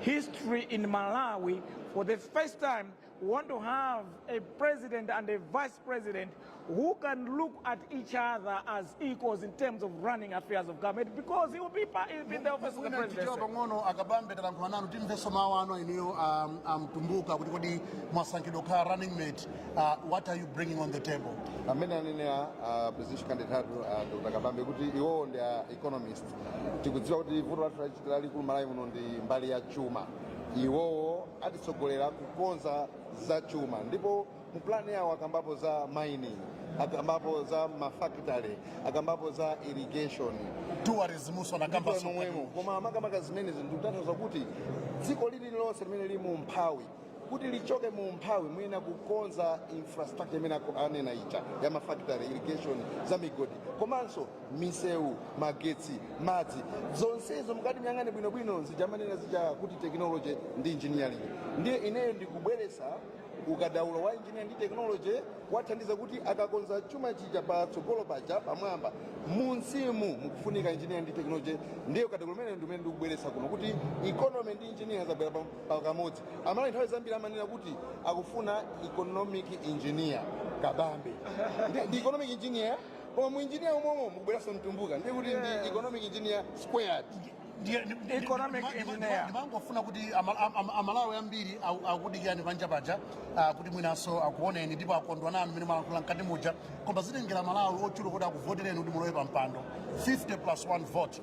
history in Malawi for the first time we want to have a president and a vice president who can look at each other as equals in terms of running affairs of government because he will be, pa- he will be in the office of the Mwina tichewa presidency. pang'ono akabambe talankhula nanu timvenso mawu ano iniyo um, amtumbuka kuti kodi mwasankhidwa kukhala running mate uh, what are you bringing on the table amene anenera uh, presidential candidate athu uh, dr kabambe kuti iwowo ndi a economist tikudziwa kuti vuto lathu lalikulu m'Malawi muno ndi mbali ya chuma iwowo atitsogolera kukonza za chuma ndipo mu plani yawo akambapo za mining akambapo za mafakitale akambapo za irrigation tourismunso anakamba Ndipo momwemo koma makamaka zimene ndikutanthauza kuti dziko lililonse limene lili mu umphawi kuti lichoke mu umphawi muyenera kukonza infrastructure imene anena ija ya mafactory irrigation za migodi komanso misewu magetsi madzi zonsezo mukati muyang'ane bwinobwino zija amanena zija kuti technology ndi engineering ndiye ineyo ndikubweresa ukadaulo wa engineer ndi technology kuwathandiza kuti akakonza chuma chija patsogolo paja pamwamba munsimu mukufunika engineer ndi technology ndiye ukadaulo umenewo ndi umene ndikubweresa kuno kuti economy ndi engineer zabwera pam- pakamodzi amalawi nthawi zambiri amanena kuti akufuna economic engineer kabambe ndi, ndi economic engineer koma mu engineer momwemo mukubweranso mtumbuka ndiye kuti ndi economic engineer squared Ndiye- ndi- ndi- Economic ndi- ndi- ndi- engineer. ndimangofuna kuti ama- am- am- amalawi ambiri aku- akudikirani panja paja ah, kuti mwinanso akuoneni ndipo akondwa nanu mmene mwalankhula mkati muja koma zitengera amalawi ochuluka kuti akuvotereni kuti mulowe pa mpando 50 plus 1 vote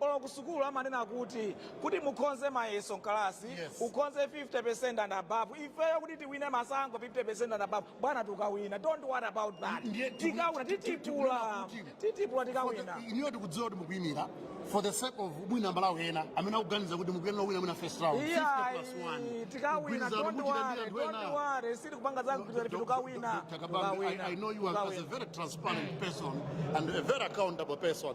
Olo kusukulu amanena kuti, kuti mukhonze mayeso mkalasi Yes. ukhonze 50% and above. Ifeyo kuti tiwine masankho 50% and above. Bwana tukawina. Don't worry about that. Ndiye tiku- Tikawina ti- ti- ti- titipula. tikunena kuti- Titipula tikawina. inuyo tikudziwa kuti mukuimira for the sake of mwina amalawi ena amene akuganiza kuti mukuyenera wina mwina first round 50 plus one. Iyayi, tikawina. Mgwirizano Don't muchita ndi worry. anthu Don't ena. worry. Sitikupanga za kugwirizana ife tikawina. Dr. Kabambe, I, I know you as, as a Tikawina. very transparent person and a very accountable person.